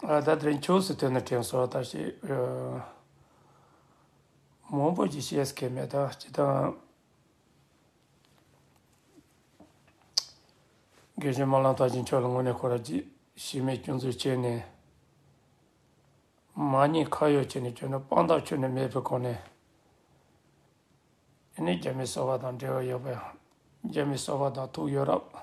ད་དེར་འཁྱོགས་སུ་ཐོན་ན་དྲན་གསོ་ལྟ་ཞིག་མང་པོ་ཞིག་ཤེས་ཀྱི་མེད་ད་ཇི་ལྟར་རྒན་གཞོན་དམར་ལམ་ཐང་ཆེན་མཆོག་ལ་དངོས་གནས་ཁོ་ར་ཇི་ཞིག་མེད་སྐྱོན་འཛུགས་བྱས་ནས་མ་ཉེས་ཁ་གཡོག་བྱས་ནས་བྱོན་ན་དཔང་རྟགས་ཆུ་ནས་མེད་པའི་སྒོ་ནས་ནི་རྒྱ་མི་གསོ་བ་དང་འབྲེལ་བ་ཡོད་པ་ཡང་རྒྱ་མི་གསོ་བ་དང་ཐུག་ཡོད་རབས།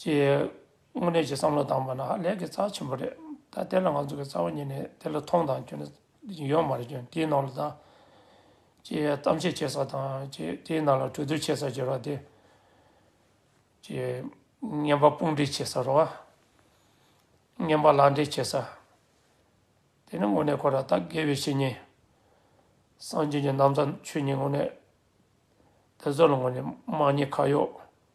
ཀྱི་དངོས་གནས་ཀྱི་བསམ་བློ་བཏང་པ་ན་ཧ་ལས་ཀྱི་རྩ་ཆེན་པོ་རེད། ད་དེ་ལ་ང་ཚོ་གི་རྩ་བ་ཉིད་ནས་དེ་ལ་མཐོང་དང་སྐྱོན་ཡོད་མ་རེད་སྐྱོན་དེའི་ནང་ལ་དང། ཀྱི་གཏམ་བཤད་བྱེད་ས་དང་ཀྱི་དེའི་ནང་ལ་གྲོས་བསྡུར་བྱེད་ས་ཀྱི་རོ་དེ། ཀྱི་བརྙན་པ་དཔུང་སྒྲིག་བྱེད་ས་རོ། བརྙན་པ་ལག་འབྲེལ་བྱེད་ས། དེ་ནི་དངོས་གནས་ཁོ་རང་ད་དགེ་བའི་བཤེས་གཉེན། སངས་རྒྱས་ཀྱི་རྣམ་ཐར་ཆོས་ཉིད་དངོས་གནས། དེ་ཚོ་ལ་དངོས་གནས་དམངས་གཉེར་ཁ་གཡོག།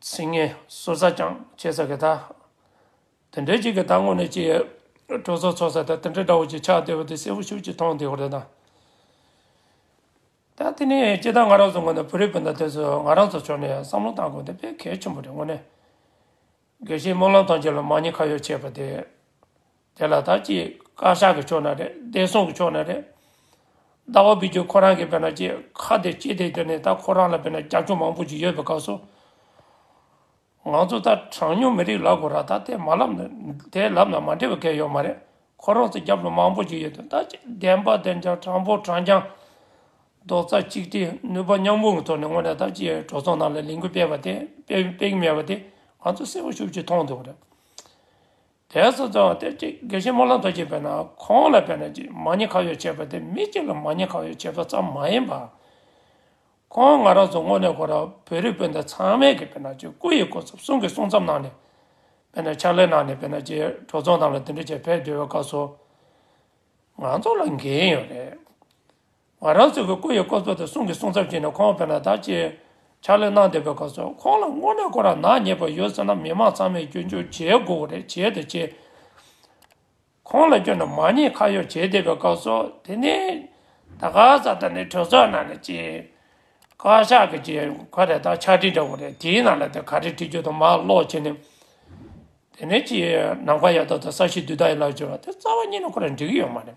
ཚིག་ངན་གསོལ་ས་ཀྱང་བྱེད་ས་གི་ད། དེ་འདྲའི་གཅིག་གི་ད་དངོས་ནས་ཀྱི། སྤྲོ་ཚོགས་ཚོགས་ས་ད་དེ་འདྲའི་དགྲ་བོ་ཀྱི་ཕྱག་བདེ་བ་དེ་གསལ་བོ་ཤུགས་ཀྱིས་མཐོང་བདེ་བ་རེད་ད། ད་དེ་ནས་ཀྱི་ད་ང་རང་ཚོ་དངོས་ནས་བོད་རིགས་སྤུན་ཟླ་དེ་ཚོས་ང་རང་ཚོ་ཕྱོགས་ནས་བསམ་བློ་བཏང་དགོས་དེ་དཔེ་གལ་ཆེན་པོ་རེད་དངོས་ནས། དགེ་བཤེས་སྨོན་ལམ་དང་བཅས་ལ་མ་ཉེས་ཁ་གཡོག་བྱས་པ་དེ། དེ་ལ་ད་ཅི་བཀའ་ཤག་གི་ཕྱོགས་ན་རེད་བདེ་སྲུང་གི་ཕྱོགས་ན་རེད། ཟླ་བ་བུ་རྒྱུད་ཁོ་རང་གིས་དཔེར་ན་ཅི་ཁ་བདེ་སྐྱིད་བདེ་གྱུར་ནས་ད་ཁོ་རང་ལ་དཔེར་ན་རྒྱབ་ལྗོངས་མང་པོ་ཞིག་ཡོད་པའི་སྐབས་སུ། ང་ཚོ་ད་གྲངས་ཉུང་མི་རིགས་ལབ་དགོས་ར་ད་དེ་མ་ལབ་དེ་ལབ་ན་མ་འགྲིག་པ་གལ་ཡོད་མ་རེད་ཁོ་རང་ཚོ་རྒྱབ་ལྗོངས་མང་པོ་ཞིག་ཡོད་དོ་ད་ཅི་བདེན་པ་བདེན་ཀྱང་དྲང་པོ་དྲང་ཀྱང། རྡོག་རྩ་གཅིག་སྒྲིལ་ནུས་པ་མཉམ་སྤུངས་ཀྱི་ཐོག་ནས་དངོས་གནས་ད་ཅིའི་གྲོས་ཚོགས་ནང་ལ་ལས་འགུལ་སྤེལ་བ་དེ་སྤེལ་གྱི་མེད་པ་དེ་ང་ཚོ་གསལ་པོ་ཤུགས་ཀྱིས་མཐོང་འདུག་རེད། དེ་ཚོ་ཚང་བ་དེ་གཅིག་དགེ་བཤེས་སྨོན་ལམ་རྡོ་རྗེ་བས་ན་ཁོང་ལ་བས་ན་གཅིག་མ་ཉེས་ཁག་ཡོད་བྱས་པ་དེ་མི་གཅིག་ལ་མ་ཉེས་ཁག་ཡོད་བྱས་པ་ཙམ་མ་ཡིན་པར། ཁོང་ང་རང་ཚོ་དངོས་གནས་ཁོ་རང་བོད་རིགས་སྤུན་ཟླ་ཚང་མས་ཀྱི་བས་ན་གཅིག་སྐུ་ཡི་སྐོར་ཚབ་གསུང་གི་གསུང་ཙམ་གནང་ནས་བས་ན་ཕྱག་ལས་གནང་ནས་བས་ན་གཅིག་གྲོས་ཚོགས་ནང་ལ་འདི་འདྲ་བྱས་ཕེབས་བསྡོད་པའི་སྐབས་སུ། ང་ཚོ་ལ་འགན་ཡོད་རེད། ང་རང་ཚོའི་སྐུ་ཡི་བཀོད་གཏོར་དེ་གསུང་གི་གསུང་ཚབ་བྱས་ནས་ཁོང་བོད་ནང་དར་ཆེད་ཕྱག་ལས་གནང་བསྡད་པའི་སྐབས་སུ་ཁོང་ལ་དངོས་གནས་ཁོ་རང་ནག་ཉེས་པ་ཡོད་ཟེར་ན་མི་མང་ཚང་མས་སྐྱོན་བརྗོད་བྱེད་དགོས་པ་རེད་བྱས་དང་བྱེད། ཁོང་ལ་སྐྱོན་དུ་མ་ཉེས་ཁ་གཡོག་བྱས་བསྡད་པའི་སྐབས་སུ་དེ་ནས་ད་ག་ས་ད་ནི་གྲོས་ཚོགས་ནང་ནས་ཀྱི་བཀའ་ཤག་གི་ཀྱི་ཁ་རེ་ད་ཕྱག་བྲིས་འདྲ་བོ་རེད་དེའི་ནང་ལ་དེ་ག་རེ་བྲིས་རྒྱུ་དང་མ་ཀློག་བྱས་ནས་དེ་ནས་ཀྱི་ནམ་མཁའ་ཡག་ཐོག་ཏུ་ས་གཞི་བསྡུས་དག་ཡིན་ལགས་ཟེར་བ་དེ་རྩ་བ་ཉིད་ནས་ཁོ་རང་འགྲིག་གི་ཡོད་མ་རེད།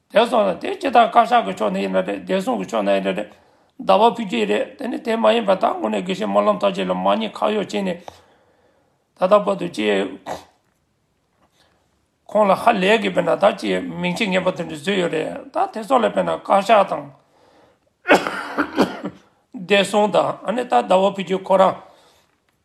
དེ་སོང་ལ་དེ་སྤྱི་དང་བཀའ་ཤག་གི་ཕྱོགས་ནས་ཡིན་ན་རེད་བདེ་སྲུང་གི་ཕྱོགས་ན་ཡིན་ན་རེད། ཟླ་བ་ཕུད་ཀྱི་རེད་དེ་ནི་དེ་མ་ཡིན་པ་ད་དངོས་གནས་དགེ་བཤེས་སྨོན་ལམ་ཐར་རྗེ་ལ་མ་ཉེས་ཁག་གཡོག་བྱས་ནས་ད་ལྟ་བར་དུ་ཅི། ཁོང་ལ་ཧ་ལས་གི་བས་ན་ད་ཅི་མིང་ཆེ་ངན་པ་དེ་འདྲ་བཟོས་ཡོད་རེད་ད་དེ་སོགས་ལ་བས་ན་བཀའ་ཤག་དང། བདེ་སྲུང་དང་ཨ་ནི་ད་ཟླ་བ་ཕུད་ཀྱི་ཁོ་རང།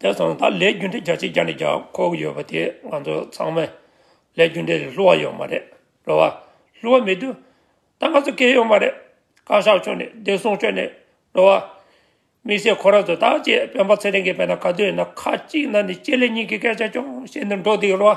དེ་དང་ད་ལས་རྒྱུ་འབྲས་རྒྱ་ཆེ་རྒྱ་ནས་རྒྱ་ཁོག་གི་ཡོད་པ་དེ་ང་ཚོ་ཚང་མས་ལས་རྒྱུ་འབྲས་ལས་སླུ་བ་ཡོད་མ་རེད་རེད་བ། སླུ་བ་མི་འདུག་ད་ང་ཚོ་སྐད་ཡོད་མ་རེད་བཀའ་ཤག་ཕྱོགས་ནས་བདེ་སྲུང་ཕྱོགས་ནས་རེད་བ། དམིགས་བསལ་ཁོ་རང་ཚོ་ད་ཅེས་སྤེན་པ་ཚེ་རིང་གིས་བས་ན་ག་དུས་ཡིན་ན་ཁ་གཅིག་ན་ནས་སྤྱི་ལེ་གཉིས་ཀྱི་སྐད་ཆ་ཅུང་བཤད་ནས་འགྲོ་འདུག་རེད་བ།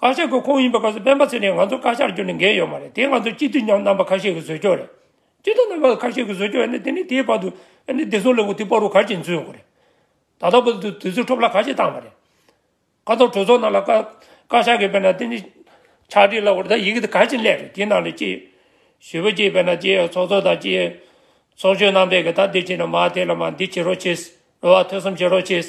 བཀའ་ཤག་གི་ཁོངས་ཡིན་པའི་སྐབས་སུ་སྤེན་པ་ཚེ་རིང་ང་ཚོ་བཀའ་ཤག་རྒྱུ་ནས་འགལ་ཡོད་མ་རེད་དེ་ང་ཚོ་སྤྱི་འཐུས་མཉམ་རྣམ་པ་ཁ་ཤས་ཀྱི་བཟོས་ཆོག་རེད་སྤྱི་འཐུས་རྣམ་པ་ཁ་ཤས་ཀྱི་བཟོས་ཆོག་ཡ་ན་དེ་ནས་དེའི་བར་དུ་ཡ་ན་བདེ་སྲུང་ལས་ཁུངས་དེ་སྤོ་རུ་ག་ཅིག་འཛུལ་ཡོང་གི་རེད་ད་ལྟ་བར་དུ་དུས་ཚོད་འཕྲོ་བརླག་ག་ཤས་བཏང་བ་རེད་ཁ་ཐོར་གྲོས་ཚོགས་ནང་ལ་བཀའ་ཤག་གིས་བལྟས་ན་དེ་ནི་ཕྱག་བྲིས་ལ་འོར་ད་ཡི་གེ་དེ་ག་ཅིག་ལས་རེད་དེའི་ནང་ལས་ཀྱི་ཞུ་བ་ཅིག་བལྟས་ན་ཀྱི་ཚོགས་གཙོ་དང་ཀྱི་ཚོགས་གཞོན་རྣམ་པས་ཀྱི་ད་འདི་བྱས་ན་མ་དེ་ལ་མ་འདི་བྱེད་རོགས་བྱས་རོགས་ཐོས་བསམ་བྱེད་རོགས་བྱས།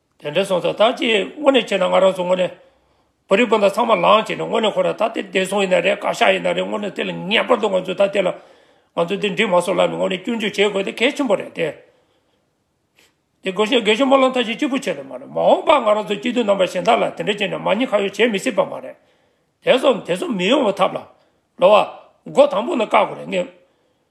དེ་འདྲ་སོང་ཙང་ད་ཅི་དངོས་གནས་བྱས་ན་ང་རང་ཚོ་དངོས་གནས། བོད་རིགས་སྤུན་ཟླ་ཚང་མ་ལངས་བྱས་ནས་དངོས་གནས་ཁོ་རང་ད་དེ་བདེ་སྲུང་ཡིན་ན་རེད་བཀའ་ཤག་ཡིན་ན་རེད་དངོས་གནས་དེ་ལ་ངེས་པར་དུ་ང་ཚོས་ད་དེ་ལ། ང་ཚོས་དེ་འགྲིག་མ་སོང་ལབ་ནས་དངོས་གནས་སྐྱོན་བརྗོད་བྱེད་དགོས་དེ་གལ་ཆེན་པོ་རེད་དེ། དེ་དགོས་ཤིང་དགེ་ཞོ་སྨོན་ལམ་ཐབས་ཤེས་གཅིག་པུ་བྱས་དུ་མ་རེད་མ་འོངས་པ་ང་རང་ཚོ་སྐྱིད་སྡུག་རྣམ་པ་གཞན་དག་ལ་དེ་འདྲ་བྱས་ནས་མ་ཉེས་ཁ་གཡོག་བྱེད་མི་སྲིད་པ་མ་རེད། དེ་སོང་དེ་སོང་མི་ཡོང་བའི་ཐབས་ལ། ལོ་བ། མགོ་དང་པོ་ནས་བཀག་དགོས་རེད་ངེས།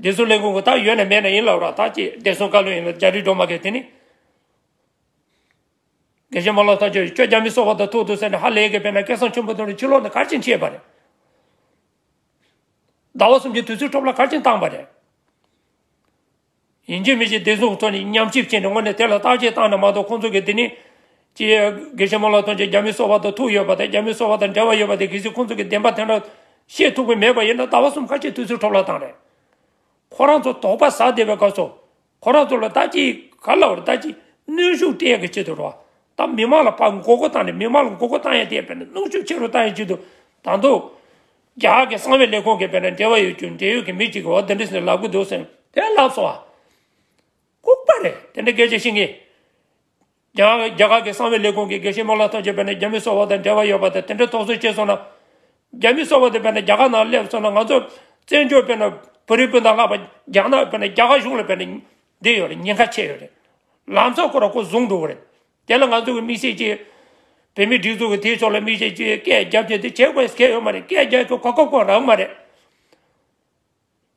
བདེ་སྲུང་ལས་ཁུངས་ཀྱི་དག་ཡོད་ནས་མེད་ན་ཡིན་ལ་རོགས་ཐག་གཅད་བདེ་སྲུང་བཀའ་བློན་ཡིན་ལ་རྒྱ་རིགས་འགྲོ་མ་གལ་དེ་ནི། དགེ་བཤེས་མ་ལོག་ཐག་ཆོད་ཁྱོད་རྒྱ་མི་སོག་པ་དང་ཐུག་འདུག་ཟེར་ནས་ཧ་ལས་ཀྱི་དཔེར་ན་སྐལ་བཟང་ཆེན་པོ་དང་རིན་ཆེན་ལོག་ནས་གར་ཆེན་བྱས་པ་རེད། ཟླ་བ་གསུམ་གྱི་དུས་ཚོད་འཕྲོ་བརླག་གར་ཆེན་བཏང་པ་རེད། ཡིན་གྱི་མི་གཅིག་བདེ་སྲུང་ཚོ་ནི་ཉམས་ཞིབ་བྱས་ནས་སྔོན་ནས་དེ་ལ་བརྟག་དཔྱད་བཏང་ན་མ་གཏོགས་ཁོང་ཚོ་གིས་དེ་ནི། ཀྱེ། དགེ་བཤེས་མོ་ལ་ཐོན་རྗེས་རྒྱ་མི་སོ་བ་དང་ཐུག་ཡོད་པ་དང་རྒྱ་མི་སོ་བ་དང་འབྲེལ་བ་ཡོད་པ་དེ་གལ་སྲིད་ཁོང་ཚོ་གིས་བདེན་པ་དེ་འདྲ་ཤེས་ཐུག་གི་མེད་པ་ཡིན་ན་ཟླ་བ་གསུམ་ཁ་ཆེ་དུས་ཚོད་འཕྲོ་བརླག་བཏང་རེད། ཁོ་རང་ཚོ་དོགས་པ་ཟ་བདེ་བའི་སྐབས་སོ། ཁོ་རང་ཚོ་ལ་ལྟ་ཅི། ག་ལ་བར་ལྟ་ཅི། གནོན་ཤུགས་སྤྲད་ཀྱི་ཆེད་དུ་རོགས་དང་མི་མང་ལ་ཕ་མགོ་སྐོར་བཏང་ནས་མི་མང་ལ་མགོ་སྐོར་བཏང་ཡ་དེ་བས་ན་གནོན་ཤུགས་ཆེ་རུ་བཏང་ཡ་ཆེད་དུ་དང་ཐོག་རྒྱ་གར་གྱི་གསང་བའི་ལས་ཁུངས་ཀྱི་བེད་ན་འབྲེལ་བ་ཡོད་རྒྱུ་འབྲེལ་ཡོད་ཀྱི་མི་གཅིག་གིས་འོ་དེ་འདྲ་ཞིག་ལབ་གི་འདུག་ཟེར་དེ་ལབ་སོང་བ། ལྐུགས་པ་རེད་དེ་འདྲ་སྐད་ཆ་བཤད་མཁན། རྒྱ་གར་གྱི་གསང་བའི་ལས་ཁུངས་ཀྱི་དགེ་བཤེས་མོ་ལ་ཐོན་ཆེད་བེད་ན་རྒྱ་མི་སོ་བ་དང་འབྲེལ་བ་ཡོད་པ་དང་དེ་འདྲ་དོགས་ཟོན་བྱས་སོང་ན། རྒྱ་མི་སོ་བ་དེ་བེད་ན་རྒྱ་གར་ནང་སླེབས་སོང་ན་ང་ཚོ་བཙན་བྱོལ་བེད་ན་བོད་རིགས་སྤུན་ཟླ་ལྷག་པ་རྒྱ་ནག་བེད་ན་རྒྱ་གར་གཞུང་ལ་བེད་ན་འདི་ཡོད་རེད་ཉེན་ཁ་ཆེ་ཡོད་རེད། ལམ་སང་ཁོ་ར་ཁོ་བཟུང་འགྲོ་གི་རེད་དེ་ལ་ང་ཚོ་གི་དམིགས་བསལ་གྱིས། བོད་མིའི་སྒྲིག་འཛུགས་ཀྱི་དེའི་ཕྱོགས་ལ་དམིགས་བསལ་གྱིས་སྐད་རྒྱབ་རྒྱབ་དེ་བྱེད་དགོས་སྐལ་ཡོད་མ་རེད་སྐད་རྒྱབ་ཁོ་གོ་སྐབས་ཁོ་རག་མ་རེད།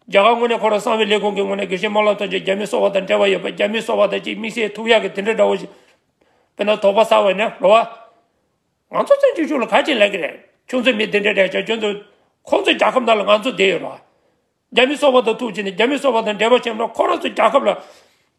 རྒྱ་གར་ངོས་ནས་ཁོ་རང་གསང་བའི་ལས་ཁུངས་ཀྱི་ངོས་ནས་དགེ་བཤེས་དམར་ལགས་ཐོན་རྗེས་རྒྱ་མི་སོ་བ་དང་འབྲེལ་བ་ཡོད་པ་རྒྱ་མི་སོ་བ་དང་གཅིག་དམིགས་བསལ་ཐུགས་ཡག་གི་དེ་འདྲ་འདྲ་བོ་ཞིག་དཔེར་ན་དོག་པ་བསགས་བས་ན་འགྲོ་བ། ང་ཚོ་བཙན་བྱོལ་གཞུང་ལ་ག་ཅིག་ལས་ཀྱི་རེད་ཁྱོད་ཚོ་མི་དེ་འདྲ་འདྲ་བྱ་ཁྱོད་ཚོ། ཁོང་ཚོ་རྒྱ་ཁབ་ནང་ལ་ང་ཚོ་བསྡད་ཡོད་ར། རྒྱ་མི་སོ་བ་དང་ཐུགས་བྱས་ནས་རྒྱ་མི་སོ་བ་དང་འབྲེལ་བ་བྱས་ན་ཁོ་རང་ཚོ་རྒྱ་ཁབ་ལ།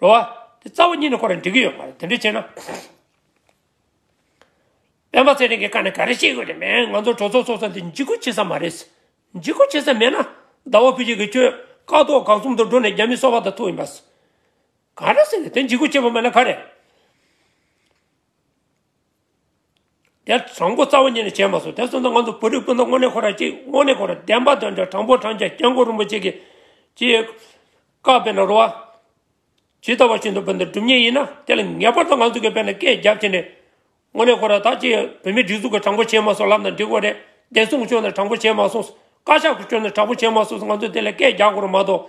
རོ་བ། དེ་རྩ་བ་གཉིས་ནི་ཁོ་རང་འགྲིག་གི་ཡོད་མ་རེད་དེ་འདྲས་བྱས་ན། སྤེན་པ་ཚེ་རིང་གིས་ཀ་ནས་ག་རེ་བཤད་དགོས་དེ་མེད་ང་ཚོ་གྲོས་ཚོགས་ཚོགས་ས་འདི་འཇིག་སྐུལ་བྱེད་ས་མ་རེད། འཇིག་སྐུལ་བྱེད་ས་མེད་ན། ཟླ་བ་ཕུད་ཅིག་གིས་ཁྱོད་ཀག་ཏོག་གག་གསུམ་དུ་འགྲོ་ནས་རྒྱ་མི་སོ་བ་དང་ཐུག་ཡིན་པ། ག་རེ་ཟེར་ནས་དེ་འཇིག་སྐུལ་བྱེད་པ་མེད་ན་ག་རེ། དེ་དྲང་པོ་རྩ་བ་ཉིད་ནས་བྱས་མ་སོང་དེ་སོང་ཙང་ང་ཚོ་བོད་རིགས་སྤུན་ཟླ་དངོས་གནས་ཁོ་ར་ཅིག་དངོས་གནས་ཁོ་ར་བདེན་པ་དོན་འདྲ་དྲང་པོ་དྲང་རྒྱ་སྐྱབས་མགོན་རིན་པོ་ཆེ་གི་ཅེས་བཀའ་དཔེ་ན་རོ་བ། ཇི་ལྟ་བ་བཞིན་དུ་བོད་འདི་སྒྲུབ་ཉེས་ཡིན་ན་དེ་ལ་ངེས་པར་དུ་ང་ཚོ་གི་བོད་ནས་སྐད་རྒྱབ་བྱས་ནས་དངོས་གནས་ཁོ་ར་ད་ཅི་བོད་མི་སྒྲིག་འཛུག་གི་དྲང་པོ་བྱས་མ་སོང་ལབ་ན་འགྲིག་གོ་རེད་བདེན་སྲུང་བཅོས་ན་དྲང་པོ་བྱས་མ་སོང་བཀའ་ཤག་གི་བཅོས་ན་དྲང་པོ་བྱས་མ་སོང་ང་ཚོ་དེ་ལ་སྐད་རྒྱག་དགོས་ར་མ་གཏོགས།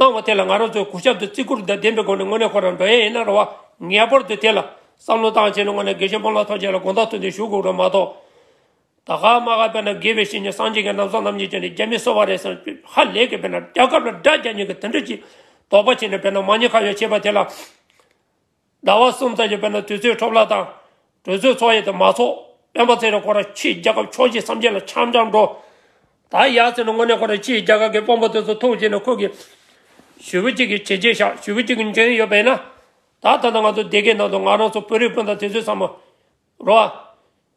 གནང་བ་དེ་ལ་ང་རང་ཚོས་གོ་སྐབས་དེ་བརྩི་བཀུར་དང་ལྡན་པའི་སྒོ་ནས་དངོས་གནས་ཁོ་རང་འགྲོ་ཡས་ཡིན་ན་རེ་བ། ངེས་པར་དུ་དེ་ལ་བསམ་བློ་བཏང་བྱས་ནས་དངོས་གནས་དགེ་བཤེས་སྤོམ་ལགས་ཐམས་ཅད་ལ་དགོངས་དག་ཐུགས་འདུན་ཞུ་དགོས་རེད་མ་གཏོགས། ད་ག་མ་ག་བས་ན་དགེ་བའི་བཤེས་གཉེན་སངས་རྒྱས་ཀྱི་རྣམ་གསང་རྣམ་གཉིས་བྱས་ནས་རྒྱ་མི་གསོད་པ་རེད་བསམ་དུས་ཧ་ལས་ཀྱི་བས་ན་རྒྱ་ཁབ་ལ་དགྲ་རྒྱ་གཉིས་ཀྱི་དེ་འདྲ་ཅིག་དོགས་པ་བྱས་ནས་བས་ན་མ་ཉེས་ཁ་ཡོག་བྱས་པ་དེ་ལ། ཟླ་བ་གསུམ་ཙམ་གྱི་བར་ན་དུས་ཚོད་འཕྲོ་བརླག་དང། གྲོས་ཚོགས་འཚོགས་ཡས་དུ་མ་འཚོགས། སྤེན་པ་ཚེ་རིང་ཁོ་རང་ཕྱིའི་རྒྱལ་ཁབ་ཕྱོགས་བཞི་སམ་བརྒྱད་ལ་འཆམ་འཆམ་འགྲོ། ད་ཡར་ཚེ་རིང་དངོས་གནས་ཁོ་རང་ཕྱིའི་རྒྱལ་ཁབ་ཀྱི་དཔོན་པོ་དེ་ཚོ་ཐུག་བྱས་ནས་ཁོ་གིས། ཞུ་བོད་གཅིག་གི་བྱས་རྗེས་བཞག་ཞུ་བོད་གཅིག་གི་འཇོན་ཡོད་པས་ན། ད་ད་ལྟ་ང་ཚོ་སྡེ་དགེའི་ནང་དུ་ང་རང་ཚོ་བོད་རིགས་སྤུན་ཟླ་དེ་ཚོས་བསམ་མོ། རོ།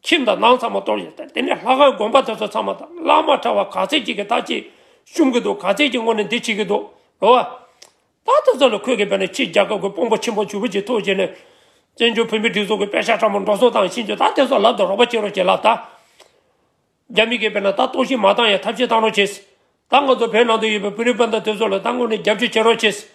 ཁྱིམ་དང་ནང་ཚང་མ་གཏོར་ཡོད་དེ་ནས་ལྷ་ཁང་དགོན་པ་དེ་ཚོ་ཚང་མ་དང་བླ་མ་གྲྭ་བ་ག་ཚད་ཅིག་གིས་ད་ཅིག་བཤུམ་གི་འདུག་ག་ཚད་ཅིག་སྔོན་ནས་འདི་བྱེད་ཀྱི་འདུག་ལོ་བ། ད་དེ་ཚོ་ལ་ཁོས་གི་བོད་ནས་ཕྱིར་རྒྱ་གར་དགོས་དཔོན་པོ་ཆེན་པོ་ཇུ་བོད་ཀྱི་ཐུགས་བཞེད་ནས། བཙན་བྱོལ་བོད་མི་སྒྲིག་འཛུགས་ཀྱི་དཔེ་ཆ་ཕྲ་མོ་འགྲོ་སོང་དང་ཤིན་ཅོ་ད་དེ་ཚོ་ལབ་དང་རོགས་པ་བྱེད་རོགས་བྱེད་ལབ་ད། རྒྱ་མི་གི་བོད་ནང་ད་གཏོར་བཤིག་མ་བཏང་ཡང་ཐབས་ཤེས་བཏང་རོགས་བྱེད། ད་ང་ཚོ་བོད་ནང་དུ་ཡོད་པའི་བོད་རིགས་སྤུན་ཟླ་དེ་ཚོ་ལ་ད་སྔོན་ནས་རྒྱབ་སྐྱོར་བྱེད་རོགས་བྱེད།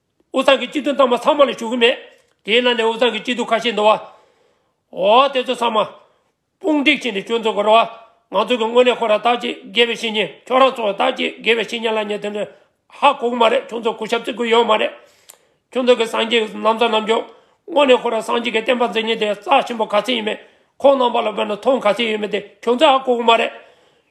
དབུ་གཙང་གི་སྐྱིད་སྡུག་མཐའ་མ་ཚང་མ་ལ་ཞུ་གི་མེད། དེའི་ནང་ནས་དབུ་གཙང་གི་སྐྱིད་སྡུག་ཁ་ཤས་འདུ་བ། འོ་དེ་ཚོ་ཚང་མ། དཔུང་སྒྲིག་བྱས་ནས་སྐྱོན་འཛུགས་དགོས་ར་བ། ང་ཚོ་གི་དངོས་གནས་ཁོ་རང་དག་ཅིག་དགེ་བའི་བཤེས་གཉེན་ཁྱོད་རང་ཚོ་དག་ཅིག་དགེ་བའི་བཤེས་གཉེན་ལ་ཉན་དོན་ནི། ཧ་གོ་གི་མ་རེད་ཁྱོད་ཚོ་གུས་ཞབས་བརྩི་དགོས་ཡོད་མ་རེད། ཁྱོད་ཚོ་གི་སངས་རྒྱས་ཀྱི་ནམ་མཚར་ནམ་འཇོག། དངོས་གནས་ཁོ་རང་སངས་རྒྱས་ཀྱི་བསྟན་པ་འཛིན་ཉིན་དེ་རྩ་ཆེན་པོ་ག་ཚད་ཡིན་མེད་ཁོང་རྣམ་པ་ལ་བོད་ནང་མཐོང་ག་ཚད་ཡོད་མེད་དེ་ཁྱོད་ཚོས་ཧ་གོ་གི་མ་རེད།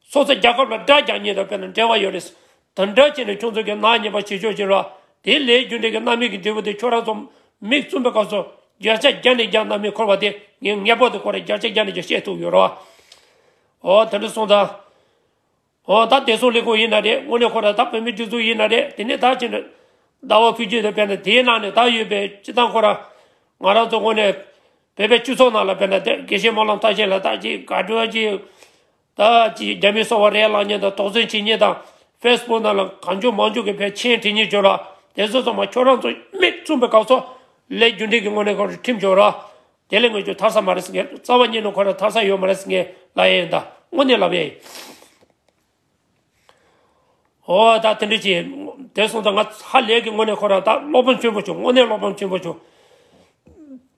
སོ་སོའི་རྒྱལ་ཁབ་ལ་དགྲ་རྒྱག་ཉེས་དང་དཔེར་ན་འབྲེལ་བ་ཡོད་རེད། དང་དགྲ་བྱས་ནས་ཁྱོད་ཚོ་གི་ནག་ཉེས་པ་བྱེད་ཆོག་ཅིག་རོགས། དེའི་ལས་རྒྱུ་འབྲས་ཀྱི་གནའ་མི་གི་འབྲས་བུ་དེ་ཁྱོད་རང་ཚོ། མིག་བཙུམ་པའི་སྐབས་སུ། རྒྱལ་ཆ་རྒྱ་ནས་རྒྱག་གནའ་མི་འཁོར་བ་དེ་ངས་ངེས་པར་དུ་གོ་རེ་རྒྱལ་ཆ་རྒྱ་ནས་རྒྱག་ཤེས་ཐུབ་ཡོད་རོགས། འོ་ད་འདྲི་སོང་ད། འོ་ད་བདེ་སྲུང་ལས་ཁུངས་ཡིན་ན་རེད་དངོས་གནས་ཁོ་རང་ད་བོད་མིའི་སྒྲིག་འཛུགས་ཡིན་ན་རེད་དེ་ནས་ད་ཅི་འདྲི། ཟླ་བ་ཕུད་རྒྱུ་དང་དཔེར་ན་དེའི་ནང་ནས་ད་ཡོད་པའི་སྤྱི་བཏང་ཁོ་རང། ང་རང་ཚོ་དངོས་གནས། བོད་པའི་སྤྱི་ཚོགས་ནང་ལ་དཔེར་ན་དེར་དགེ་བཤེས་སྨོན་ལམ་ཐང་ཆེན་ལ་ད་ཅི་དགའ་སྤྲོའི་ཅི། ད་ཅི་རྒྱ་མི་སོག་བ་རའི་ལག་གཉན་དང་དོགས་ཟོན་བྱེད་ཉེས་དང་ཕེས་སྤུག་ནང་ལ་གང་བྱུང་མང་བྱུང་གི་བེད་ཆེན་བྲིས་ཉེས་བྱུང་ར་དེ་ཚོ་ཚང་མ་ཁྱོད་རང་ཚོ་མིག་བཙུམ་པའི་སྐབས་ཚོ་ལས་རྒྱུ་འབྲས་ཀྱི་དངོས་གནས་ཁོ་ར་ཁྲིམས་བྱུང་ར་དེ་ལས་ངོས་ཀྱུ་ཐར་ས་མ་རེད་ངས་རྩ་བ་ཉིད་ནས་ཁོ་ར་ཐར་ས་ཡོད་མ་རེད་ངས་ལབ་ཡས་ཡིན་ད་དངོས་གནས་ལབ་ཡས་ཡིན། ཨོ་ད་དེ་འདྲས་བྱས་དེ་སོང་ད་ང་ཧ་ལས་ཀྱི་དངོས་གནས་ཁོ་ར་ད་བློ་ཕམ་ཆེན་པོ་བྱུང་དངོས་གནས་བློ་ཕམ་ཆེན་པོ་བྱུང།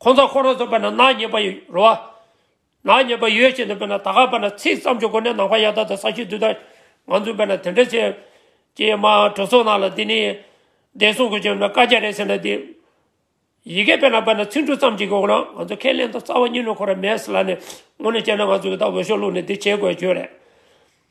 ཁོང་ཚོ་ཁོ་རང་ཚོ་བོད་ན་ནག་ཉེས་པ་ཡོད་རེད་བ། ནག་ཉེས་པ་ཡོད་ཅེས་ནས་བོད་ན་ད་ག་བོད་ན་ཚིག་བརྩམས་ཆོས་སྒོ་ནས་ནང་པ་ཡག་ད་ད་ས་ཤུལ་དུས་ད། ང་ཚོས་བོད་ན་དེ་འདྲ་བྱས། ཀྱེ་མ་གྲོ་སོ་ནག་ལ་འདི་ནི། བདེ་སྲུང་གི་ཆོས་ན་བཀའ་རྒྱ་རེད་ཟེར་ན་འདི། ཡི་གེ་བོད་ན་བོད་ན་ཚིག་འབྲུ་ཙམ་གྱི་གོ་ན་ང་ཚོ་ཁས་ལེན་ད་རྩ་བ་གཉིས་ལུགས་ཁོ་ར་མེད་ཟེར་ལ་ནི། ངོ་ནས་བྱས་ན་ང་ཚོ་གི་ད་འོས་ཤོག་བླུག་ནས་འདི་བྱས་དགོས་ཀྱི་ཡོད་རེད།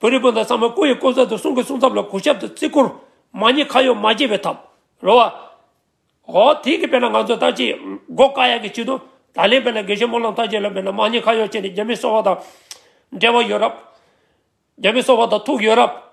བོད་རིགས་སྤུན་ཟླ་ཚང་མས་སྐུ་ཡི་སྐུ་མཚམས་དང་གསུང་གི་གསུང་མཚམས་ལ་གུས་ཞབས་དང་བརྩི་བཀུར། མ་ཉེས་ཁ་གཡོག་མ་བགྱིས་པའི་ཐབས། རོལ་བ། ཧོ། དེང་གི་དཔེར་ན་ང་ཚོ་ལྟར་ཆེས་མགོ་དཀའ་ཡག་གི་ཆེད་དུ། ད་ལན་དཔེར་ན་དགེ་བཤེས་སྨོན་ལམ་ཐར་རྒྱས་ལ་མེད་ན་མ་ཉེས་ཁ་གཡོག་བྱས་ནས་རྒྱ་མི་གསོ་བ་དང། འབྲེལ་བ་ཡོད་རབས། རྒྱ་མི་གསོ་བ་དང་ཐུག་ཡོད་རབས།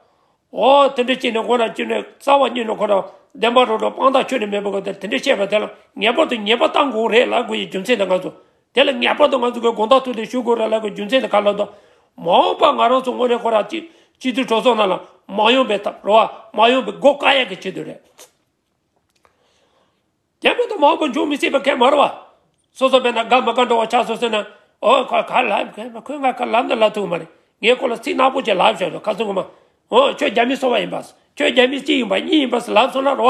ཧོ། དེ་འདྲ་བྱས་ནས་མགོ་རང་གཅུན་ནས་རྩ་བ་སྙིང་ནས་འཁོར་རམ། བདེན་པ་རོ་བྲོ་དཔང་རྟགས་ཆོས་ནི་མེད་པའི་སྐབས་དེར་དེ་འདྲ་བཤད་པ་དེ་ལ་ངེས་པར་དུ་ཉེས་པ་བཏང་དགོས་རེད་ལབ་དགོས་ཀྱི་རྒྱུ་མཚན་དེ་ང་ཚོ་དེ་ལ་ངེས་པར་དུ་ང་ཚོས་ཁོའི་དགོངས་དག་ཐོས་ཏེ་ཞུ་དགོས་ར་ལག་གི་རྒྱུ་མཚན་ནི་ག་ལ་དོགས། མ་འོངས་པར་ང་རང་ཚོ་དངོས་རེ་ཁོ་རང་ཅིག་སྤྱི་འཐུས་གྲོས་ཚོགས་ནང་ལ་མ་ཡོང་པའི་ཐབས་རོ་མ་ཡོང་པའི་སྒོ་གང་ཡག་གིས་ཕྱེ་འདོད་རེད། དེ་མེད་ན་མ་འོངས་པར་འབྱུང་མི་སྲིད་པ་ཁས་མ་ར་བ། སོ་སོ་བས་ན་དགའ་མ་དགའ་འགྲོ་བ་ཆགས་སོང་ཟེར་ན་འོ་ཁོ་ག་ལ་ཁས་མ་ཁོས་ང་ག་ལ་ནི་ལབ་ཐུབ་གི་མ་རེད་ངས་ཁོ་ལ་ཚིག་ནག་པོ་ཅིག་ལབ་ཤོག་ཤོག་ག་སོང་གི་མ་འོ་ཁྱོད་རྒྱ་མི་སོ་བ་ཡིན་པ་ཁྱོད་རྒྱ་མི་གཅིག་ཡིན་པ་གཉིས་ཡིན་པ་ལབ་སོང་ན་རོ།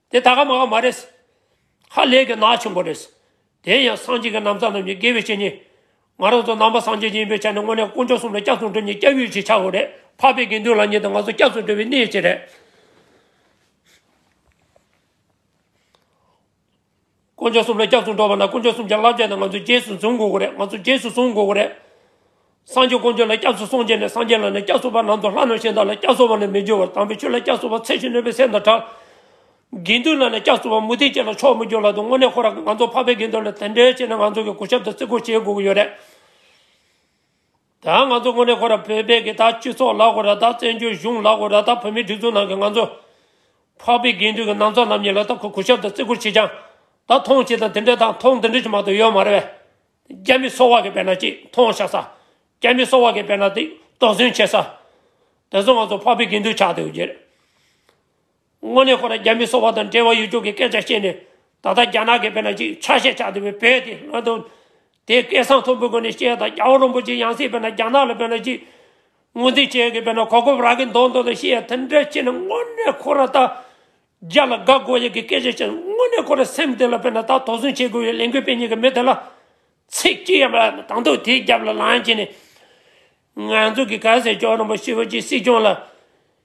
དེ་ད་ག་མ་ག་མ་རེད། ཧ་ལས་ཀྱི་ནག་ཆེན་པོ་རེད། དེ་ཡང་སངས་རྒྱས་ཀྱི་ནམ་ཚ་རྣམས་ཀྱི་དགེ་བའི་བཤེས་གཉེན། ང་རང་ཚོ་ནང་པ་སངས་རྒྱས་ཀྱི་ཡིན་པའི་ཆ་ནས་དངོས་གནས་དཀོན་མཆོག་གསུམ་ལ་སྐྱབས་སུ་འགྲོ་ཉིད་སྐྱབས་ཡུལ་གྱི་ཆ་བོ་རེད་འཕགས་པའི་དགེ་འདུན་ལ་ཉིད་དང་ང་ཚོ་སྐྱབས་སུ་འགྲོ་བའི་གནས་གཅིག་རེད། དཀོན་མཆོག་གསུམ་ལ་སྐྱབས་སུ་འགྲོ་བ་ན་དཀོན་མཆོག་གསུམ་གྱི་བསླབ་བྱ་དེ་ང་ཚོས་རྗེས་སུ་འཛུན་དགོས་ཀྱི་རེད་ང་ཚོས་རྗེས་སུ་བཟུང་དགོས་ཀྱི་རེད། སངས་རྒྱས་དཀོན་མཆོག་ལ་སྐྱབས་སུ་སོང་རྗེས་ནས་སངས་རྒྱས་ལ་ནི་སྐྱབས་སོང་བ་ནང་དུ་ལྷ་རྣམས་གཞན་དག་ལ་སྐྱབས་སོང་བ་ནི་མི་འགྱུར་བར་དམ་པའི་ཆོས་ལ་སྐྱབས་སོང་བ་ཚད་ཀྱིས་ནོན་པའི་སེམས་དང་འདྲ། དགེ་འདུན་ལ་ནི་སྐྱབས་སོང་བ་མུ་ཏིག་ཅན་ལ་ཕྱོགས་མི་འགྱུར་ལ་དུ་དངོས་གནས་ཁོ་རང་གིས་ང་ཚོ་འཕགས་པའི་དགེ་འདུན་ལ་དེ་འདྲའི་བྱས་ན་ང་ཚོ་གིས་གུས་ཞབས་དང་བརྩི་བཀུར་བྱེད་དགོས་ཀྱི་ཡོད་རེད། ད་ང་ཚོ་ངོ་རེ་ཁོ་ར་བོད་པའི་གི་ད་སྤྱི་ཚོགས་ལ་ཁོ་ར་ད་བཙན་བྱོལ་གཞུང་ལ་ཁོ་ར་ད་བོད་མི་སྒྲིག་འཛུགས་ནང་གི་ང་ཚོ་འཕགས་པའི་དགེ་འདུན་གི་ནང་ཚོགས་རྣམས་ཉིད་ལ་ད་ཁོ་གུ་ཞབས་ད་བརྩི་བཀུར་བྱེད་ཅང་ད་མཐོང་བྱེད་དང་དེ་འདྲའི་དང་མཐོང་དེ་འདྲའི་ཆུ་མ་ཏོ་ཡོད་མ་རེད་བས། རྒྱ་མི་སོ་བ་གི་བས་ན་ཅིག་མཐོང་ཤག་ས། རྒྱ་མི་སོ་བ་གི་བས་ན་ཏིག་དོགས་ཟོན་བྱེད་ས། དེ་ཚོ་ང་ཚོ་འཕགས་པའི་དགེ་འདུན་ཆགས་ཏེ་ཡོད་རྒྱུ་རེད། དངོས་གནས་ཁོ་རང་རྒྱ་མི་སོག་པ་དང་འབྲེལ་བ་ཡོད་ཀྱོང་གི་སྐད་ཆ་བཤད་ནས་ད་ལྟ་རྒྱ་ནག་གི་བེ་ན་ཅིག་ཆ་ཤས་ཆགས་བསྡད་པའི་བེ་དེ་ང་དང། དེ་སྐད་གསང་མཐོན་པོའི་སྒོ་ནས་བཤད་ད་རྒྱ་བོ་རོན་པོ་ཆེ་ཡང་སྲིད་བེ་ན་རྒྱ་ནག་ལ་བེ་ན་ཅིག་ངོ་འཛིན་བྱེད་གི་བེ་ན་གོ་གོབ་རག་གི་འདོག་འདོག་དང་ཤེས་ཡ་དེ་འདྲ་བྱེད་ན་དངོས་གནས་ཁོ་རང་ད་རྒྱ་ལ་དགའ་དགོ་ཡག་གི་སྐད་ཆ་བཤད་ན་དངོས་གནས་ཁོ་རང་སེམས་དེ་ལ་བེ་ན་ད་དོགས་ཟོན་བྱེད་དགོས་ཡོད་ལས་འགུལ་སྤེལ་ཉེ་གི་མི་དེ་ལ་ཚིག་གཅིག་ཡང་མ་ལབ་དང་དུ་དེའི་རྒྱབ་ལ་ལངས་བྱས་ནས་ང་ཚོ་གི་ག་ཟེར་ཀྱོང་རོན་པོ་ཤི་བོ་ཅིག་སྲིད་སྐྱོང་ལ་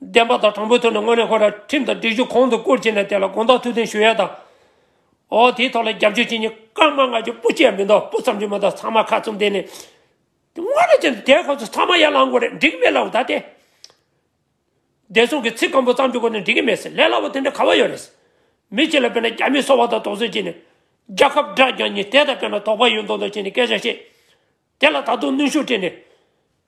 བདེན་པ་དང་དྲང་པོའི་ཐོག་ནས་དངོས་གནས་ཁོ་རང་ཁྲིམས་དང་སྒྲིག་གཞུང་གོང་དུ་བཀུར་བྱས་ནས་དེ་ལ་དགོངས་དག་ཐུགས་འཐུན་ཞུ་ཡ་དང། འོ་དེའི་ཐོག་ལ་རྒྱབ་སྐྱོར་བྱེད་མྱི་སྐར་མ་ལྔ་བཅུ་སྤུ་སྐྱེས་མི་འདུག་སྤུ་ཙམ་གྱི་མི་འདུག་ཚང་མ་ཁ་བཙུམ་བསྡད་ནས། དངོས་གནས་ཀྱི་འདས་ཁོ་ཚོ་ཚང་མ་ཡར་ལངས་དགོས་རེད་འགྲིག་མེད་ལབ་བདའ་སྟེ། བདེ་སྲུང་གི་ཚིག་སྐམ་པོ་ཙམ་གྱི་སྒོ་ནས་འགྲིག་གི་མེད་ཟེར་ལས་སླ་བོ་དེ་འདྲ་ག་བ་ཡོད་རེད། མི་གཅིག་ལ་དཔེར་ན་རྒྱ་མིས་སོ་བ་དང་དོགས་ཟོན་བྱས་ནས། རྒྱ་ཁབ་དགྲ་རྒྱ་མྱི་དེ་དང་དཔེར་ན་དོགས་པ་ཡོད་མདོག་མདོག་བྱས་ནས་སྐད་ཆ་བཤད། དེ་ལ་ད་དུང་གནོན་ཤུགས་སྤྲད་ནས།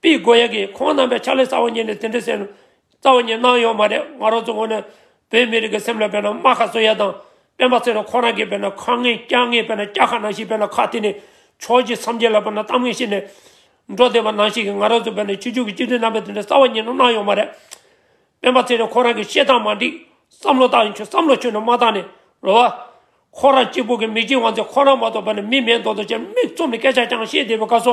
པི་གོ་ཡེ་གིས་ཁོང་རྣམ་པའི་ཕྱག་ལས་གསར་བ་གཉེར་ནས་དེ་འདྲའི་སེམས་རྩ་བ་ཉིད་སྣང་ཡོད་མ་རེད་ང་རང་ཚོ་ངོ་ནས་བོད་མི་རིགས་ཀྱི་སེམས་ལ་དཔེར་ན་རྨ་ཁ་བཟོ་ཡ་དང་སྤེན་པ་ཚེ་རོ་ཁོ་རང་གིས་དཔེར་ན་ཁ་ངན་སྐྱག་ངན་དཔེར་ན་སྐྱག་ཁ་ནང་ཞིག་དཔེར་ན་ཁ་དེ་ནས་ཕྱོགས་ཀྱི་སམ་རྒྱལ་ལ་དཔེར་ན་གཏམ་ངན་བཤད་ནས་འགྲོ་བསྡད་པ་ནང་ཞིག་གིས་ང་རང་ཚོ་དཔེར་ན་ཕྱི་ཕྱོགས་ཀྱི་སྤྱི་འཐུས་རྣམ་པས་དེ་འདྲའི་རྩ་བ་ཉིད་སྣང་ཡོད་མ་རེད་སྤེན་པ་ཚེ་རོ་ཁོ་རང་གིས་བཤད་སྟངས་མ་འགྲིག་བསམ་བློ་བཏང་ཡིན་ཆོག་བསམ་བློ་ཆུད་ནས་མ་བཏང་ནས་རོ་བ། ཁོ་རང་གཅིག་པུ་གིས་མི་གཅིག་དབང་ཚད་ཁོ་རང་མ་གཏོགས་དཔེར་ན་མི་མེད་མདོག་མདོག་ཅན་མིག་བཙུམ་ནས་སྐད་ཆ་རྐྱང་བཤད་བསྡད་པའི་སྐབས་སོ་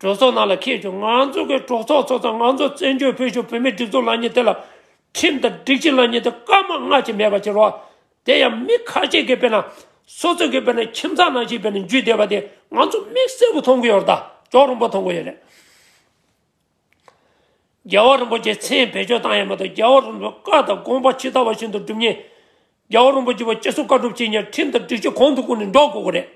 གྲོས་ཚོགས་ནང་ལ་ཁེལ་བྱུང་ང་ཚོ་གི་གྲོས་ཚོགས་ཚོགས་ཚང་ང་ཚོ་བཙན་བྱོལ་བོད་གཞུང་བོད་མིའི་སྒྲིག་འཛུགས་ལ་ཉེ་དེ་ལ་ཁྲིམས་དང་སྒྲིག་གཞི་ལ་ཉེ་དེ་སྐར་མ་སྔ་ཕྱི་མེད་པ་ཅིག་རོགས་དེ་ཡང་མི་ཁ་ཤས་ཀི་བེད་ན་སོ་སོ་ཀི་བེད་ན་ཁྱིམ་ཚང་ནང་ཞིག་བེད་ན་འཇུས་བསྡད་པ་དེ་ང་ཚོ་མིག་གསལ་པོ་མཐོང་གི་ཡོད་རེད་ད་ཅོག་རིན་པོ་མཐོང་གི་ཡོད་རེད། རྒྱལ་བ་རིན་པོ་ཆེ་མཚན་བེད་སྤྱོད་བཏང་ཡ་མ་གཏོགས་རྒྱལ་བ་རིན་པོ་བཀའ་དང་དགོངས་པ་ཇི་ལྟ་བ་བཞིན་དུ་སྒྲུབ་ཉེན་རྒྱལ་བ་རིན་པོ་ཆེ་བ་སྤྱི་སོ་བཀའ་སྒྲུབ་བྱེད་ཉིན་ཁྲིམས་ལྟར་སྒྲིག་གཞི་གོང་དུ་བཀུར་ནས་འགྲོ་དགོས་ཀྱི་རེད།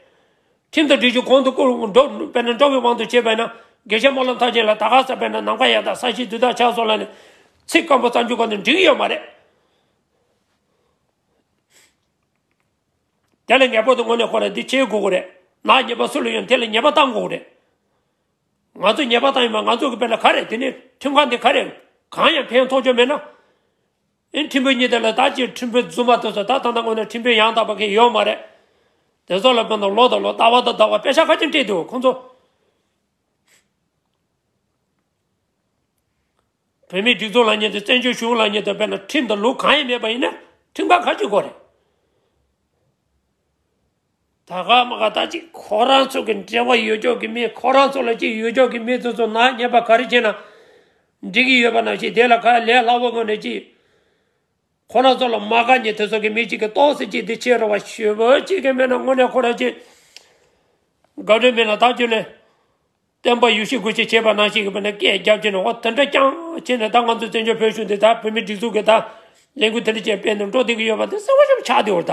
ཁྲིམས་ལྟར་སྒྲིག་གཞི་གོང་དུ་བཀུར་འགྲོ་བས་ན་འགྲོ་བའི་དབང་དུ་བྱས་པས་ན་དགེ་བཤེས་སྨོན་ལམ་ཐང་ཆེན་ལ་ད་ག་ཟེར་བས་ན་ནམ་མཁའ་ཡང་དག་ས་གཞི་དུས་དག་ཆགས་སོགས་ལ་ནི་ཚིག་སྐམ་པོ་རྩ་འཇུག་ག་ནས་འགྲིག་ཡོད་མ་རེད། དེ་ལ་ངེས་པར་དུ་སྔོན་ནས་ཁོ་ལ་འདི་བྱེད་དགོས་ཀྱི་རེད། ནག་ཉེས་པ་སུ་ལ་ཡོད་ན་དེ་ལ་ཉེས་པ་བཏང་དགོས་ཀྱི་རེད། ང་ཚོས་ཉེས་པ་བཏང་ཡོད་མ་ང་ཚོ་གི་དཔེར་ན་ག་རེད་དེ་ནས་ཁྲིམས་ཁང་དེ་ག་རེད་གང་ཡང་ཕན་ཐོགས་ཆོག་མེད་ན། ཨེ་འཕྲིན་བུ་གཉིས་དེ་ལས་ད་ཅིའི་འཕྲིན་བུ་རྫུན་པ་དེ་ཚོ་ད་ཐང་ད་དངོས་ནས་འཕྲིན་བུ་ཡང་དག་པ་གི་ཡོད་མ་རེད། དེ་ཚོ་ལ་བོད་ནང་ལོག་དང་ལོ་ད་བ་དང་ད་བ་དཔེ་ཆ་ཁ་ཅིག་འཁྲིད་འདུག་ཁོང་ཚོ་བོད་མིའི་སྒྲིག་འཛུགས་ལ་ཉེ་དུ་བཙན་བྱོལ་གཞུང་ལ་ཉེ་དུ་བོད་ནང་འཕྲིན་དང་ལུགས་གང་ཡིན་མེད་པ་ཡིན་ན་འཕྲིན་པ་ཁ་ཅིག་གོ་རེད། ད་ག་མ་ག་ད་ཅིག་ཁོ་རང་ཚོ་གི་འབྲེལ་བ་ཡོད་ཅོག་གི་མེད་ཁོ་རང་ཚོ་ལ་ཅིག་ཡོད་ཅོག་གི་མེད་ཚོ་ཚོ་ནག་ཉེས་པ་ག་རེ་བྱས་ན་འགྲིག་གི་ཡོད་པ་ནང་བཞིན་དེ་ལ་ག་ལས་སླ་བོ་དངོས་ནས་ཅིག་ཁོ་རང་ཚོ་ལ་མ་ག་ཉེས་དེ་ཚོ་གི་མེད་ཅིག་གི་རྟོགས་སེ་ཅིག་དེ་ཕྱི་རུ་བ་ཞུ་བོ་ཅིག་གི་མེད་ན་དངོས་ནས་ཁོ་རང་ཅིག་ག་འདྲོད་མེད་ན་ད་ཅོ་ནས་བསྟན་པ་ཡུ་ཤི་དགོས་ཅིག་བྱས་པ་ནང་བཞིན་གི་བ་ནས་སྐད་རྒྱབ་བྱས་ནས་འོ་དེ་འདྲ་རྐྱང་བྱས་ནས་ད་ང་ཚོ་བཙན་བྱོལ་བོད་གཞུང་འདི་ད་བོད་མི་སྒྲིག་འཛུགས་གི་ད་ལས་འགུལ་དེ་འདྲ་ཅིག་སྤེལ་ནས་འགྲོ་སྡིང་གི་ཡོད་པ་དེ་གསལ་བོ་ཞིག་ཆགས་འདི་འོ་ད།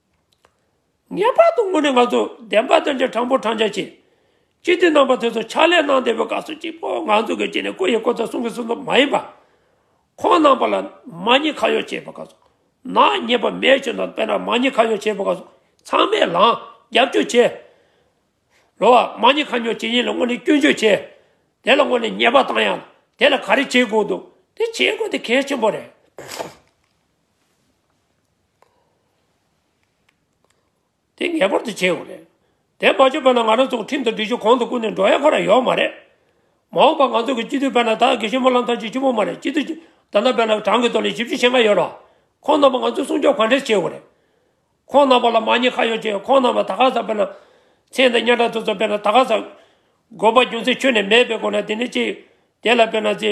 ངེས་པར་དུ་དངོས་གནས་ང་ཚོ་བདེན་པ་བདེན་རྐྱང་དྲང་པོ་དྲང་རྐྱང་བྱེད། སྤྱི་འཐུས་རྣམ་པ་ཚོས་སོ་ཕྱག་ལས་གནང་བདེ་བོའི་སྐབས་སུ་གཅིག་པོ་ང་ཚོ་གི་སྤྱི་ནས་བཀུར་ཡི་བཀུར་ཐོབ་གསུང་གི་གསུང་ཐོབ་མ་ཡིན་པར། ཁོང་རྣམ་པ་ལ་མ་ཉེས་ཁ་གཡོག་བྱེད་པའི་སྐབས་སུ། ནག་ཉེས་པ་མེད་བྱུང་དང་དཔེར་ན་མ་ཉེས་ཁ་གཡོག་བྱེད་པའི་སྐབས་སུ་ཚང་མས་ལངས་རྒྱབ་སྐྱོར་བྱེད། ལོ་བ། མ་ཉེས་ཁ་གཡོག་བྱེད་ཡིན་ལ་དངོས་གནས་སྐྱོན་བརྗོད་བྱེད། དེ་ལ་དངོས་གནས་ཉེས་པ་བཏང་ཡང་དེ་ལ་ག་རེ་བྱེད་དགོས་འདུག་དེ་བྱེད་དགོས་དེ་གལ་ཆེན་པོ་རེད། དེ་ངེས་པར་དུ་བྱེད་དགོས་རེད། དེ་མ་བྱས་པ་ན་ང་རང་ཚོ་ཁྲིམས་དང་སྒྲིག་གཞི་གོང་དུ་བཀུར་ནས་འགྲོ་ཡ་ཁོ་ན་ཡོད་མ་རེད། མ་འོངས་པ་ང་ཚོ་གི་སྤྱི་འཐུས་དཔལ་ནཱ་ད་དགེ་བཤེས་སྨོན་ལམ་ཐར་གཅིག་ཆུ་བོ་མ་རེད་སྤྱི་འཐུས་ཀྱི་ད་ནང་དཔལ་ནཱ་བྲང་གི་ཐོག་ལས་བཞི་བཅུ་ཕྱེད་ལྔ་ཡོད་རོགས། ཁོང་རྣམ་པ་ང་ཚོས་སྲུང་སྐྱོབ་ག་འདྲས་བྱེད་དགོས་རེད། ཁོང་རྣམས་པ་ལ་མ་ཉེས་ཁ་ཡོད་ཅེས་ཁོང་རྣམས་ལ་ད་ག་ཟག་དཔེར་ན། ཚེ་འདི་གཉའ་ཁྲག་ཐུག་ཙམ་དཔེར་ན་ད་ག་ཟག། དགོས་པ་རྒྱུ་མཚན་ཁྱོད་ནས་མེད་པའི་སྒོ་ནས་དེ་ནི་ཅི། དེ་ལ་དཔེར་ན་ཚེ།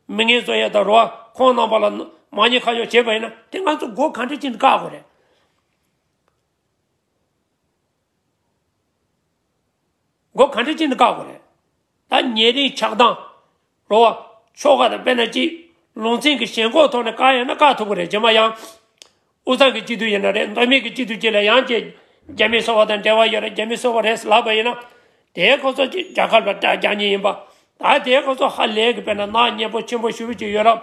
མི་ངན་བཟོ་ཡས་དང་རོ། ཁོང་རྣམས་པ་ལ། མ་ཉེས་ཁ་ཡོད་བྱས་པ་ཡིན་ན། དེ་ང་ཚོ་སྒོ་གང་དྲི་ཅིང་བཀག་དགོས་རེད། སྒོ་གང་དྲི་ཅིང་བཀག་དགོས་རེད། ད་ཉེ་རིང་ཆགས་སྡང། འགྲོ་བ། ཆོ་ག་དང་དཔེར་ན་གཅིག། ལུང་ཚན་གྱི་ཞེན་ཁོག་ཐོག་ནས་བཀག་ཡོད་ན་བཀག་ཐུབ་ཀྱི་རེད་རྗེས་མ་ཡང། འུ་ཚང་གི་སྤྱི་འཐུས་ཡིན་ན་རེད་མདོ་སྨད་ཀྱི་སྤྱི་འཐུས་གཅིག་ལ་ཡང་ཀྱེ། རྒྱ་མི་གསོ་བ་དང་འབྲེལ་བ་ཡོད་རེད་རྒྱ་མི་གསོ་བ་རེད་ལབ་པ་ཡིན་ན། དེའི་ཁོ་ཚོ་གཅིག་རྒྱ་གར་བ་དགྲ་རྒྱ་གཉིས་ཡིན་པ། ད་དེའི་ཁོ་ཚོ་ཧ་ལས་ཀྱི་དཔེར་ན་ནག་ཉེས་པོ་ཆེན་པོ་ཞུ་རུ་ཅིག་ཡོད་རབས།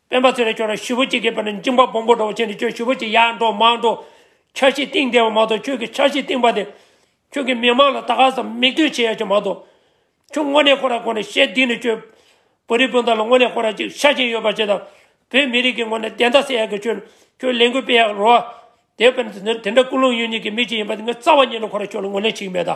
སྤེན་པ་ཚེ་རིང་ཁྱོད་རང་ཞི་བུ་གཅིག་གི་བར་ནས་འཇིངས་པ་སྦོམ་པོ་འགྲོ་བ་བྱས་ནས་ཁྱོད་ཞི་བུ་གཅིག་ཡར་འགྲོ་མར་འགྲོ། འཆར་གཞི་བཏིང་བསྡད་པ་མ་གཏོགས་ཁྱོད་ཀྱིས་འཆར་གཞི་བཏིང་པ་དེ། ཁྱོད་ཀྱིས་མི་མང་ལ་ད་ག་ཟམ་མིག་ལྟོས་བྱེད་ཡ་གྱི་མ་གཏོགས། ཁྱོད་དངོས་གནས་ཁོ་ར་དགོངས་ནས་ཞེ་སྡིགས་ནས་ཁྱོད། བོད་རིགས་སྤུན་ཟླ་ལ་དངོས་གནས་ཁོ་ར་ཅིག་ཤ་ཞེན་ཡོད་པ་ཅིག་དང། བོད་མི་རིགས་ཀྱི་ངོ་ནས་བདེན་མཐའ་གསལ་ཡ་གི་ཁྱོད། ཁྱོད་ལས་འགུལ་སྤེལ་ཡ་གི་རོ། དེ་བས་ན་དེ་འདྲ་ཀུན་སློང་ཡོད་ཉིད་ཀྱི་མི་ཅིག་ཡིན་པ་དེ་ངས་རྩ་བ་ཉིད་ནས་ཁོ་ར་ཁྱོད་ལ་ངོ་ལེན་བྱེད་ཀྱི་མེད་ད།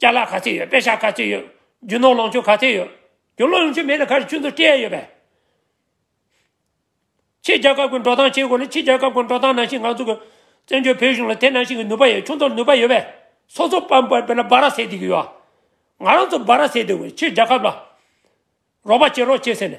རྐྱ་ལག་ག་ཚད་ཡོད་པད་ཤག་ག་ཚད་ཡོད་རྒྱུ་ནོར་ལོངས་སྤྱོད་ག་ཚད་ཡོད་རྒྱུ་ནོར་ལོངས་སྤྱོད་མེད་ན་ག་རེ་ཆུ་མཛོད་སྤྲད་ཡོད་པས། ཕྱི་རྒྱལ་ཁབ་ཀྱི་འགྲོ་སྟངས་བྱེད་དགོས་ན་ཕྱི་རྒྱལ་ཁབ་ཀྱི་འགྲོ་སྟངས་ནང་བཞིན་ང་ཚོ་གི་བཙན་བྱོལ་བོད་གཞུང་ལ་དེ་ནང་བཞིན་གྱི་ནུས་པ་ཡོད་ཆུ་མཛོད་ནུས་པ་ཡོད་པས་སོ་སོ་པ་པ་པེ་ལ་སྦ་ར་ཟེར་བསྡད་ཀྱི་ཡོད་ང་རང་ཚོ་སྦ་ར་ཟེར་བསྡད་དགོས་ཕྱི་རྒྱལ་ཁབ་ལ་རོགས་པ་བྱེད་རོགས་བྱེད་ཟེར་ནས།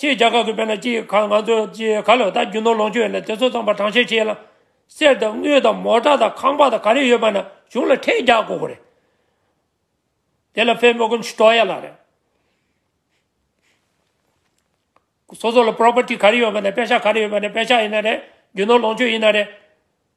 ཕྱིའི་རྒྱ་གར་གྱི་བོད་ནང་སྤྱིའི་ཁར་ང་ཚོས་སྤྱིའི་ཁ་ལོ་ད་རྒྱུ་ནོར་ལོངས་སྤྱོད་ལས་དེ་ཚོ་ཚང་པ་གྲངས་བཤེར་བྱས་ལ། གསེར་དང་དངུལ་དང་མོ་ཏྲ་དང་ཁང་པ་དང་ག་རེ་ཡོད་པ་རྣམས་གཞུང་ལ་འཕྲལ་རྒྱག་དགོས་པ་རེད། དེ་ལ་ཕེབས་མོ་ཀུན་ཤི་ཏོ་ཡ་ལགས་རེད། སོ་སོ་ལ Property ག་རེ་ཡོད་པ་ནས་དཔེ་ཆ་ག་རེ་ཡོད་པ་ནས་དཔེ་ཆ་ཡིན་ན་རེད་རྒྱུ་ནོར་ལོངས་སྤྱོད་ཡིན་ན་རེད།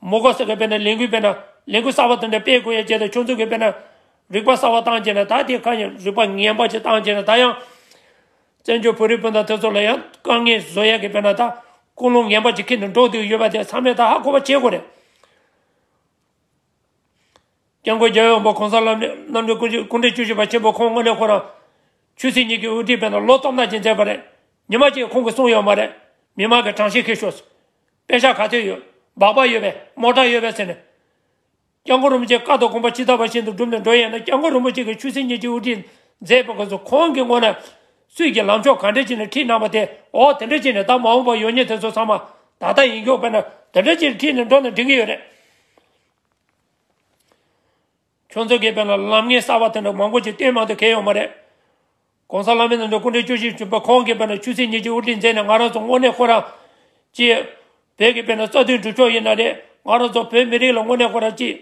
མོ་དགོས་གསོལ་གྱི་དཔེར་ན་ལས་འགུལ་དཔེར་ན། ལས་འགུལ་གསར་བ་དང་ནི་དཔེའི་དགོས་ཡ་བྱས་ཏེ་ཆོག་འཛུགས་ཀྱི་དཔེར་ན། རིག་པ་གསར་བ་བཏང་བྱས་ན་ད་དེ་གང་ཡིན་རིག་པ་ངན་པ་ཞིག་བཏང་བྱས་ན་ད་ཡང། བཙན་བྱོལ་བོད་རིགས་སྤུན་ཟླ་དེ་ཚོ་ལ་ཡང་དཀའ་ངལ་བཟོ་ཡ་གི་དཔེར་ན་ད། ཀུན་སློང་ངན་པ་ཞིག་ཁྱེར་ནས་འགྲོ་འདོད་ཡོད་པ་དེ་ཚང་མས་ད་ཧ་གོ་བ་བྱེད་དགོས་རེད། སྐྱབས་མགོན་རྒྱལ་ཡོངས་པ་གོང་ས་ལམ་འབྲས་རྣམ་རྒྱལ་སྐུ་སྐུ་འབྲས་བཅུ་བཞི་པ་ཆེན་པོ་ཁོང་དངོས་གནས་ཁོ་རང། ཆོས་སྲིད་གཉིས་ཀྱི་དབུ་ཁྲིད་དཔེར་ན་ལོ་སྟོང་ཕྲག་ཅིག་མཛད་པ་རེད། ཉི་མ་གཅིག་ཁོང་གིས་གསུངས་ཡོད་མ་རེད། མི་མང་གི་དྲང་ཤེས་ཁེལ་ཤོག། དཔེ་ཆ་ག་ཚོད་ཡོད། སྦག་སྦག་ཡོད་པས་མོ་ཏྲ་ཡོད་པས་ཟེར་ནས། སྐྱབས་མགོན་རིན་པོ་ཆེ་བཀའ་དང་དགོངས་པ་ཇི་ལྟ་བ་བཞིན་དུ་བསྒྲུབས་ནས་འགྲོ་ཡས་ན་སྐྱབས་མགོན་རིན་པོ་ཆེ་གི་ཆོས་སྲིད་གཉིས་ཀྱི་དབུ་ཁྲིད་མཛད་པའི་སྐབས་སུ་ཁོང་གི་ངོ་ན། སུས་ཀྱིས་ལམ་ཕྱོགས་ག་འདྲ་ཅིག་ནས་ཁྲིད་གནང་བ་དེ་འོ་དེ་འདྲ་ཅིག་ནས་ད་མ་འོངས་པར་ཡོང་ཉེ་དེ་ཚོ་ཚང་མ་ད་ལྟ་ཡིན་སྐྱོང་དཔེར་ན་དེ་འདྲ་ཅིག་ཁྲིད་ནས་འགྲོ་ན་འགྲིག་གི་ཡོད་རེད། ཁྱོད་ཚོ་གེ་བོད་ལ་ལམ་ངན་གསར་བ་དེ་འདྲ་མང་པོ་ཞིག་སྟོན་མང་དུ་གལ་ཡོང་བ་རེད། གོང་ས་བླ་མའི་ནང་དུ་སྐུ་འཕྲེང་བཅུ་བཞི་བྱོན་པ་ཁོང་གེ་བོད་ལ་ཆུ་ཚིགས་གཉིས་ཀྱི་དབུ་ཁྲིད་མཛད་ནས་ང་རང་ཚོ་དངོས་གནས་ཁོ་རང་གཅེས། བོད་གེ་བོད་ནང་རྩ་དོན་སྒྲུབ་ཕྱོགས་ཡིན་ན་རེད་ང་རང་ཚོ་བོད་མི་རིགས་ལ་དངོས་གནས་ཁོ་རང་གཅེས།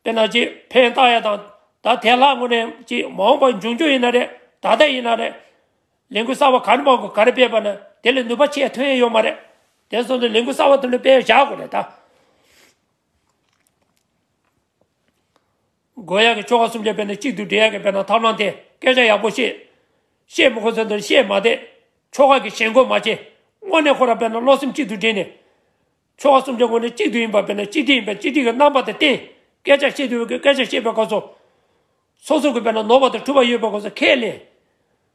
དཔེར་ན་གཅེས་ཕན་བཏགས་ཡ་དང་ད་དེ་ལྷག་དངོས་གནས་གཅེས་མ་འོངས་པ་འབྱུང་རྒྱུ་ཡིན་ན་རེད་ད་ལྟ་ཡིན་ན་རེད། ལས་འགུལ་གསར་བ་ག་རེ་མང་དགོས་ག་རེ་སྤེལ་བ་ན་དེ་ལས་ནུས་པ་ཆེས་ཐོན་ཡོད་མ་རེད། དེ་སོགས་ནི་ལས་འགུལ་གསར་བ་དེ་འདྲ་སྤེལ་བཞག་དགོས་རེད་ད། དགོས་ཡག་གི་ཆོ་ག་གསུམ་ཆ་དཔེ་ན་གཅིག་དུ་འབྲེལ་ཡག་གི་དཔེ་ན་ཐབས་ལམ་དེ་སྐད་ཆ་ཡག་པོ་བཤད། བཤད་མི་ཁོ་ཚོའི་འདིར་བཤད་མ་བསྡད། ཆོ་ག་གི་ཞེན་འཁོར་མ་བྱེད། དངོས་གནས་ཁོ་རང་དཔེ་ན་བློ་སེམས་གཅིག་ཏུ་འདྲེས་ནས། ཆོ་ག་གསུམ་ཆ་དངོས་གནས་གཅིག་ཏུ་ཡིན་པ་དཔེ་ན་གཅིག་སྒྲིལ་ཡིན་པས་གཅིག་སྒྲིལ་གྱི་རྣམ་པ་དང་བསྟན། སྐད་ཆ་བཤད་དུས་དབུས་ཀྱི་སྐད་ཆ་བཤད་པའི་སྐབས་སུ། སོ་སོར་གྱི་དཔེ་ན་ནོར་བ་དང་འཁྲུལ་བ་ཡོད་པའི་སྐོར་སོགས་ཁས་ལེན།